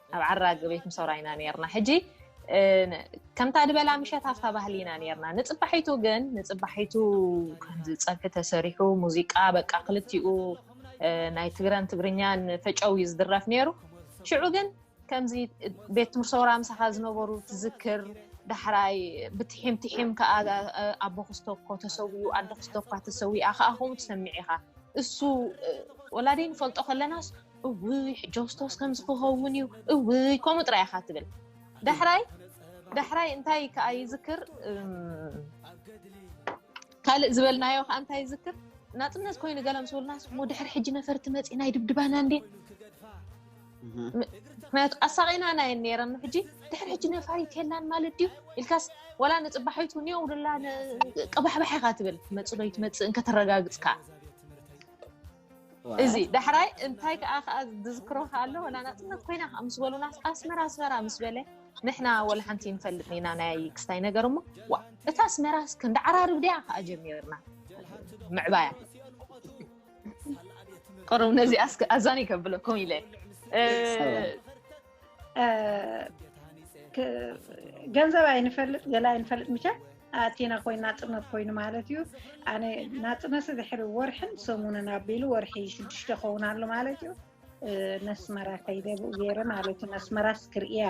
ኣብ ዓራግ ቤት ምሶራ ኢና ነርና ሕጂ ከምታ ድበላ ምሸት ኣብታ ባህሊ ኢና ነርና ንፅባሒቱ ግን ንፅባሒቱ ከምዚ ፀብሒ ተሰሪሑ ሙዚቃ በቃ ክልቲኡ ናይ ትግረን ትግርኛን ፈጨው እዩ ዝድረፍ ነይሩ ሽዑ ግን ከምዚ ቤት ትምርሶራ ምሳኻ ዝነበሩ ትዝክር ዳሕራይ ብትሒም ትሒም ከዓ ኣቦ ክዝተኮ ተሰዊኡ ኣደ ክዝተኳ ተሰዊኣ ከዓ ከምኡ ትሰሚዕ ኢኻ እሱ ወላደይ ንፈልጦ ከለናስ እውይ ሕጆስቶስ ከምዚ ክኸውን እዩ እውይ ከምኡ ጥራይ ኢኻ ትብል ዳሕራይ ዳሕራይ እንታይ ከዓ ይዝክር ካልእ ዝበልናዮ ከዓ እንታይ ይዝክር ናፅነት ኮይኑ ገለ ምስ በሉና ስሙ ድሕሪ ሕጂ ነፈርቲ መፂና ይድብድባና እንዴ ምክንያቱ ኣሳቂና ናይ ነረን ሕጂ ድሕሪ ሕጂ ነፋሪት የላን ማለት ድዩ ኢልካስ ወላ ንፅባሒቱ ኒዮ ውድላ ቀባሕባሕ ኢካ ትብል መፅእ ዶ ይትመፅእ እንከተረጋግፅ ከዓ እዚ ዳሕራይ እንታይ ከዓ ከዓ ዝዝክሮ ከዓ ኣሎ ወላ ናፅነት ኮይና ከዓ ምስ በሉና ኣስመራ ኣስመራ ምስ በለ ንሕና ወላ ሓንቲ ንፈልጥ ኢና ናይ ክስታይ ነገር እሞ ዋ እታ ኣስመራ ክንዲ ዓራርብ ድያ ከዓ ጀሚርና ምዕባያ ቅሩብ ነዚኣ ኣዛኒ ከብለኩም ኢለ ገንዘብ ኣይንፈልጥ ገለ ኣይንፈልጥ ምቸ ኣቲና ኮይን ናፅነት ኮይኑ ማለት እዩ ኣነ ናፅነት ድሕሪ ወርሕን ሰሙንን ኣቢሉ ወርሒ ሽዱሽተ ኸውን ኣሎ ማለት እዩ ነስመራ ከይደ ብኡ ገይረ ማለት እዩ ነስመራስ ክርእያ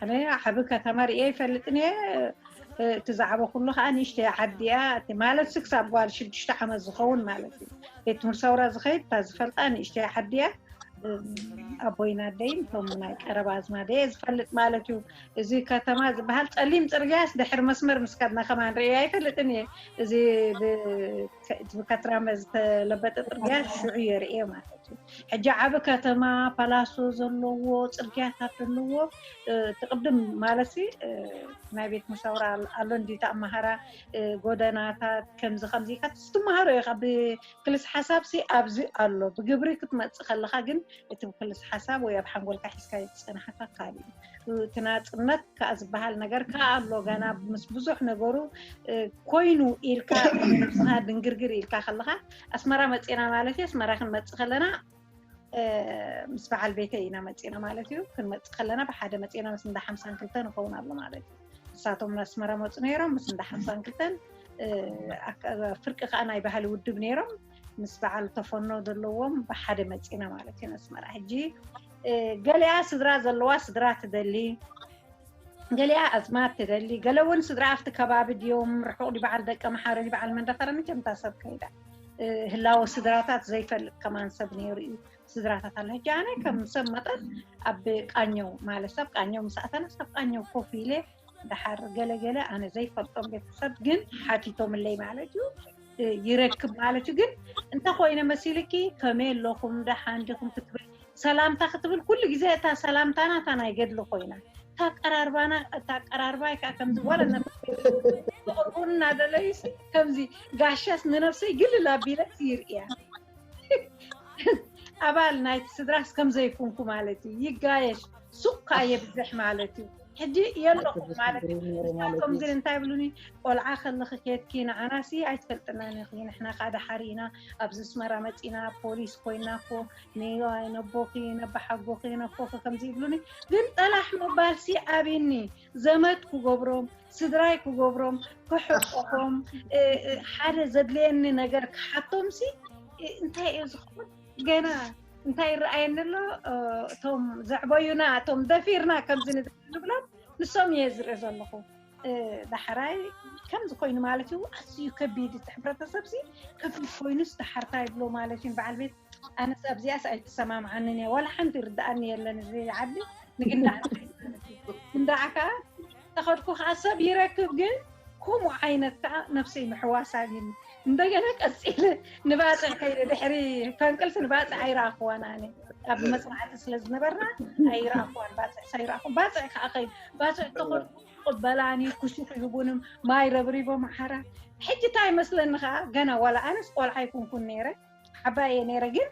ኣነ ዓብ ከተማ ርእየ ይፈልጥን እየ እቲ ዛዕባ ኩሉ ከዓ ንእሽተ ዓዲ እያ ማለት ስ ክሳብ ጓል ሽዱሽተ ዓመት ዝኸውን ማለት እዩ ቤት ትምህርቲ ሰውራ ዝኸይድ እታ ዝፈልጣ ንእሽተ ዓዲ እያ ኣቦይን ኣደይን እቶም ናይ ቀረባ ኣዝማደየ ዝፈልጥ ማለት እዩ እዚ ከተማ ዝበሃል ፀሊም ፅርግያስ ድሕሪ መስመር ምስ ከድና ከማን ርእየ ኣይፈልጥን እየ እዚ ብከትራመ ዝተለበጠ ፅርግያ ሽዑ እየ ርእየ ማለት እዩ ሕጂ ዓብ ከተማ ፓላሶ ዘለዎ ፅርግያታት ዘለዎ ትቅድም ማለት ናይ ቤት መሳውራ ኣሎ እንዲ ተኣማሃራ ጎደናታት ከምዚ ከምዚ ኢካ ትመሃሮ ኢካ ክልስ ሓሳብሲ ኣብዚ ኣሎ ብግብሪ ክትመጽእ ከለኻ ግን እቲ ብክልስ ሓሳብ ወይ ኣብ ሓንጎልካ ሒዝካዮ ዝጸናሕካ ካልእ እዩ እቲ ናጽነት ከኣ ዝበሃል ነገር ከኣ ኣሎ ገና ምስ ብዙሕ ነገሩ ኮይኑ ኢልካ ነብስኻ ድንግርግር ኢልካ ከለኻ ኣስመራ መጺና ማለት እዩ ኣስመራ ክንመጽእ ከለና ምስ በዓል ቤተይ ኢና መፂና ማለት እዩ። ክንመፅእ ከለና ብሓደ መፂና ምስ እንዳ ሓምሳን ክልተ ንኸውን ኣሎ ማለት እዩ። ንሳቶም ኣስመራ መፁ ነይሮም ምስ እንዳ ሓምሳን ክልተን ፍርቂ ከዓ ናይ ባህሊ ውድብ ነይሮም ምስ በዓል ተፈኖ ዘለዎም ብሓደ መፂና ማለት እዩ ኣስመራ። ሕጂ ገሊኣ ስድራ ዘለዋ ስድራ ትደሊ ገሊኣ ኣዝማድ ትደሊ ገለ እውን ስድራ ኣብቲ ከባቢ ድዮም ርሑቕ ድዩ በዓል ደቀ መሓረን በዓል መንደፈረን መቸም እታ ሰብ ከይዳ ህላወ ስድራታት ዘይፈልጥ ከማን ሰብ ነይሩ እዩ ስድራታት ኣለ ሕጂ ኣነ ከም ሰብ መጠን ኣብ ቃኘው ማለት ሰብ ቃኘው ምስ ኣተና ሰብ ቃኘው ኮፍ ኢለ ድሓር ገለገለ ኣነ ዘይፈልጦም ቤተሰብ ግን ሓቲቶምለይ ማለት እዩ ይረክብ ማለት እዩ ግን እንተኮይነ መሲልኪ ከመይ ኣለኹም ደሓን ዲኹም ክትብል ሰላምታ ክትብል ኩሉ ግዜ እታ ሰላምታና እታ ናይ ገድሊ ኮይና እታ ኣቀራርባና እታ ኣቀራርባይ ከዓ ከምዚ ዋላ ክቕርቡን እናደለዩ ከምዚ ጋሻስ ንነብሰይ ግልል ኣቢለ ይርእያ ኣባል ናይቲ ስድራስ ከምዘይኩንኩ ማለት እዩ ይጋየሽ ሱቕ ከዓ የብዝሕ ማለት እዩ ሕጂ የለኹም ማለት እዩ ንሳቶም ግን እንታይ ይብሉኒ ቆልዓ ከለኺ ኬትኪ ንዓናሲ ኣይትፈልጥናን ኢኺ ንሕና ከዓ ደሓር ኢና ኣብዚ ኣስመራ መፂና ፖሊስ ኮይና እኮ ንዮኣይ ነቦኺ ነባሓጎኺ ነኮኺ ከምዚ ይብሉኒ ግን ጠላሕ ምባል ሲ ኣብኒ ዘመድ ክገብሮም ስድራይ ክገብሮም ክሕቆፎም ሓደ ዘድልየኒ ነገር ክሓቶም ሲ እንታይ እዩ ዝኸውን ገና እንታይ ይረኣየኒ ኣሎ እቶም ዘዕበዩና እቶም ደፊርና ከምዚ ንብሎም ንሶም እየ ዝርኢ ዘለኹ ዳሕራይ ከምዚ ኮይኑ ማለት እዩ ኣዝዩ ከቢድ እቲ ሕብረተሰብ ሲ ከቢድ ኮይኑስ ዳሓር እንታይ ይብሎ ማለት እዩ በዓል ቤት ኣነስ ኣብዚኣስ ኣይትሰማምዓንን እያ ዋላ ሓንቲ ይርድኣኒ የለን እዚ ዓዲ ንግንዳዕ ክንዳዕ ከዓ ተኸድኩ ከዓ ሰብ ይረክብ ግን ከምኡ ዓይነት ከዓ ነፍሰይ ምሕዋሳን እዩ እንደገና ቀፂለ ንባፅዕ ከይደ ድሕሪ ፈንቅልሲ ንባፅዕ ኣይረኣኽዋን ኣነ ኣብ መፅናዕቲ ስለ ዝነበርና ኣይረኣኽዋን ባፅዕ ሳይረኣኹ ባፅዕ ከዓ ከይድ ባፅዕ ተኸድኩ ቅበላን እዩ ኩሹፍ ይህቡንም ማይ ረብሪቦም ሓራ ሕጂ እንታይ መስለኒ ከዓ ገና ዋላ ኣነስ ቆልዓ ይኩንኩን ነይረ ዓባየ ነይረ ግን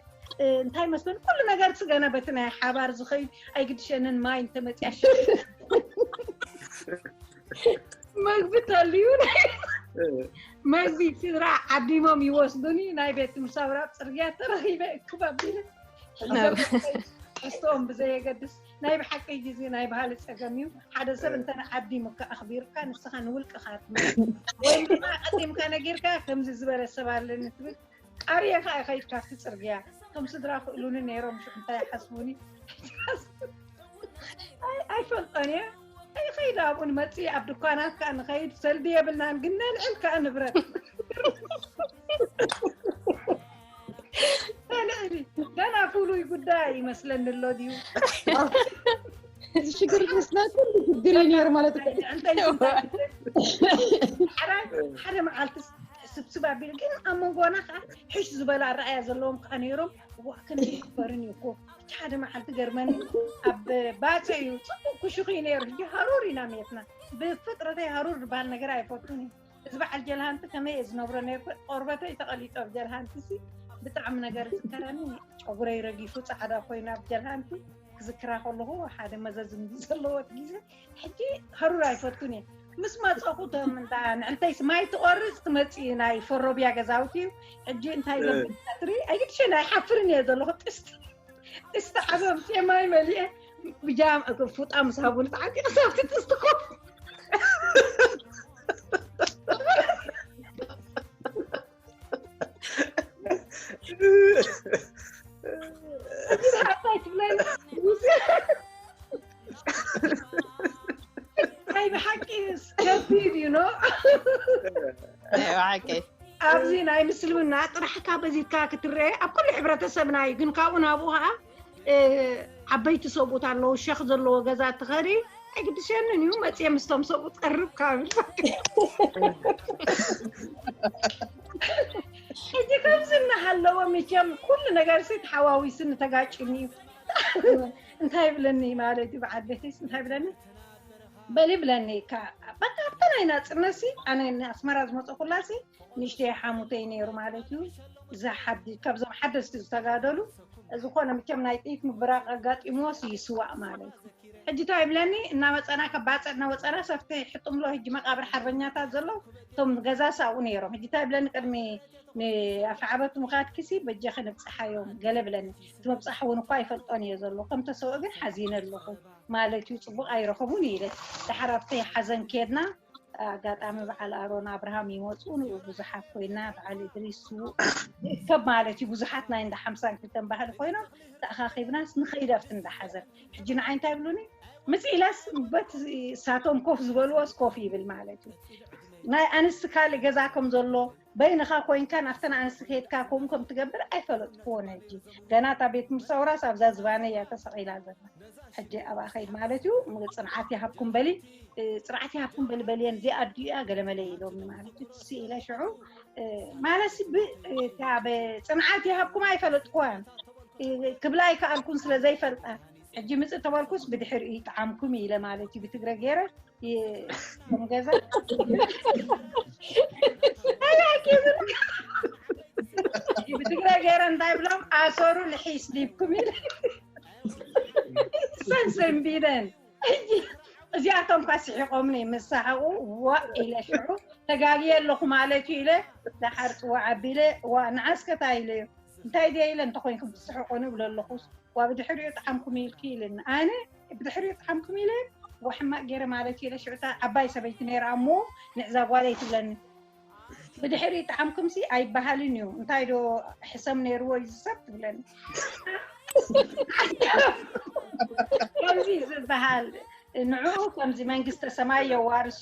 እንታይ መስሎን ኩሉ ነገር ስገና በቲ ናይ ሓባር ዝኸይድ ኣይግድሸንን ማይ እንተመፅያ ሸ መግቢ ተልዩ መግቢ ስድራ ዓዲሞም ይወስዱኒ ናይ ቤት ትምህርቲ ኣብራብ ፅርግያ ተረኺበ እክብ ኣቢለ ሕዝኦም ብዘየገድስ ናይ ብሓቂ ግዜ ናይ ባህሊ ፀገም እዩ ሓደ ሰብ እንተ ዓዲሙካ ኣኽቢርካ ንስኻ ንውልቅኻ ትመ ወይ ድማ ቀዲምካ ነጊርካ ከምዚ ዝበለ ሰብ ኣለኒ ትብል ቃርየ ከኣ ከይድካ ኣብቲ ጽርግያ እቶም ስድራ ክእሉኒ ነይሮም ሽዑ እንታይ ሓስቡኒ ኣይፈልጦን እየ ኣይኸይድ ኣብኡ ንመፅእ ኣብ ድኳናት ከዓ ንኸይድ ሰልዲ የብልናን ግን ነልዕል ከዓ ንብረት ነልዕሊ ገና ፍሉይ ጉዳይ ይመስለኒ ኣሎ ድዩ እዚ ሽግር ምስና ኩሉ ሽግር እዩ ነይሩ ማለት ሓደ መዓልትስ ስብስብ ኣቢሉ ግን ኣብ መንጎና ከዓ ሕሽ ዝበለ ኣረኣያ ዘለዎም ከዓ ነይሮም ዋእ ክንዲ ክበርን እዩ እኮ እቲ ሓደ መዓልቲ ገርመኒ ኣብ ባፀ እዩ ፅቡቅ ኩሽኩ እዩ ነይሩ ሕጂ ሃሩር ኢና ሜትና ብፍጥረተይ ሃሩር ዝበሃል ነገር ኣይፈቱን እዩ እዚ በዓል ጀልሃንቲ ከመይ እየ ዝነብሮ ነይርኩ ቆርበተይ ተቐሊጦ ኣብ ጀልሃንቲ ሲ ብጣዕሚ ነገር ዝከረኒ ጨጉረይ ረጊፉ ፃዕዳ ኮይኑ ኣብ ጀልሃንቲ ክዝክራ ከለኹ ሓደ መዘዝም ዘለዎት ግዜ ሕጂ ሃሩር ኣይፈቱን እየ ምስ መፀኹ ቶም እንዳ ንዕንተይስ ማይ ትቆርፅ ትመፅእ እዩ ናይ ፈሮብያ ገዛውቲ እዩ ሕጂ እንታይ ዘብል ቀትሪ ኣይግድሸን ኣይሓፍርን እየ ዘለኹ ጥስቲ ጥስቲ ዓበ ኣምፅኤ ማይ መሊአ ብጃም ፉጣ ምስ ሃቡኒ ተዓጢቐ ሳብቲ ጥስቲ ኮፍ ናይ ብሓቂ ከቢድ እዩ ኖ ናይ ብሓቂ ኣብዚ ናይ ምስልምና ጥራሕካ በዚካ ክትረአ ኣብ ኩሉ ሕብረተሰብና እዩ ግን ካብኡ ናብኡ ከዓ ዓበይቲ ሰብኡት ኣለዉ ሸኽ ዘለዎ ገዛ ትኸሪ ኣይግድሸንን እዩ መፅየ ምስቶም ሰብኡት ቀርብ ካብል ሕጂ ከምዚ እናሃለወ መቸም ኩሉ ነገር ሲ ተሓዋዊስኒ ተጋጭኒ እዩ እንታይ ይብለኒ ማለት እዩ በዓል ቤተይስ እንታይ ይብለኒ በል ይብለኒ ካ በቃ ኣብታ ናይ ናፅነት ሲ ኣነ ኣስመራ ዝመፀኩላ ሲ ንእሽተይ ሓሙተይ ነይሩ ማለት እዩ እዛ ሓዲ ካብዞም ሓደስቲ ዝተጋደሉ ዝኾነ ምቸም ናይ ጥይት ምብራቅ ኣጋጢምዎስ እዩ ስዋእ ማለት ሕጂ ታይ ይብለኒ እናመፀና ካብ ባፅዕ እናወፀና ሰፍቲ ሕጥምሎ ሕጂ መቃብር ሓርበኛታት ዘለው እቶም ገዛስ ኣብኡ ነይሮም ሕጂ ታይ ይብለኒ ቅድሚ ንኣፍዓበት ምኻድኪሲ በጃኺ ንብፅሓዮም ገለ ብለኒ እቲ ምብፃሕ እውን እኳ ይፈልጦን እየ ዘሎ ከም ተሰውእ ግን ሓዚነ ኣለኹ ማለት እዩ ፅቡቅ ኣይረኸቡን እዩ ኢለ ዳሓር ኣብቲ ሓዘን ከድና ኣጋጣሚ በዓል ኣሮን ኣብርሃም ይመፁ ንኡ ብዙሓት ኮይና በዓል እድሪስ ስዉእ ይእከብ ማለት እዩ ብዙሓት ናይ እንዳ ሓምሳን ክልተን ባህሊ ኮይኖም ተኣኻኺብናስ ንኸይድ ኣብቲ እንዳ ሓዘን ሕጂ ንዓይ እንታይ ይብሉኒ ምፅ ኢለስ በት እሳቶም ኮፍ ዝበልዎስ ኮፍ ይብል ማለት እዩ ናይ ኣንስቲ ካልእ ገዛ ከም ዘሎ በይንኻ ኮይንካ ናብተን ኣንስቲ ከድካ ከምኡ ከም ትገብር ኣይፈለጥክዎን ሕጂ ገና እታ ቤት ትምህርቲ ሰውራስ ኣብዛ ዝባነይ እያ ተሰቂላ ዘላ ሕጂ ኣብኣ ከይድ ማለት እዩ እሞ ጽንዓት ይሃብኩም በሊ ጽንዓት ይሃብኩም በሊ በልየን እዚኣ ኣዲኡ እያ ገለመለ ኢሎምኒ ማለት እዩ ትስ ኢለ ሽዑ ማለሲ ብጽንዓት ይሃብኩም ኣይፈለጥክዋን ክብላ ኣይከኣልኩን ስለ ዘይፈልጣ ሕጂ ምጽእ ተበልኩስ ብድሕሪኡ ይጥዓምኩም ኢለ ማለት እዩ ብትግረ ገይረ ከም ገዛ ብትግረ ገይረ እንታይ ብሎም ኣሰሩ ልሒስ ዲብኩም ኢለ ሰን ሰንቢደን ሕጂ እዚኣቶም እኳ ስሒቆምኒ ምስ ሰሓቑ ዋእ ኢለ ሽዑ ተጋግየ ኣለኹ ማለት እዩ ኢለ ደሓር ፅዋዕ ኣቢለ ዋእ ንዓስከ እንታይ ኢለዮ እንታይ ድየ ኢለ እንተኾይንኩም ትስሕቁ ንብሎ ኣለኹ ዋእ ብድሕሪኡ ጠዓምኩም ኢልኪ ኢልኒ ኣነ ብድሕሪኡ ጠዓምኩም ኢለ ዋእ ሕማቅ ጌረ ማለት ኢለ ሽዑ እታ ዓባይ ሰበይቲ ነይራ እሞ ንዕዛ ጓለይ ትብለኒ ብድሕሪኡ ጠዓምኩምሲ ኣይበሃልን እዩ እንታይ ዶ ሕሰም ነይርዎ እዩ ዝሰብ ትብለኒ ከምዚ ዝበሃል ንዕኡ ከምዚ መንግስተ ሰማይ የዋርሶ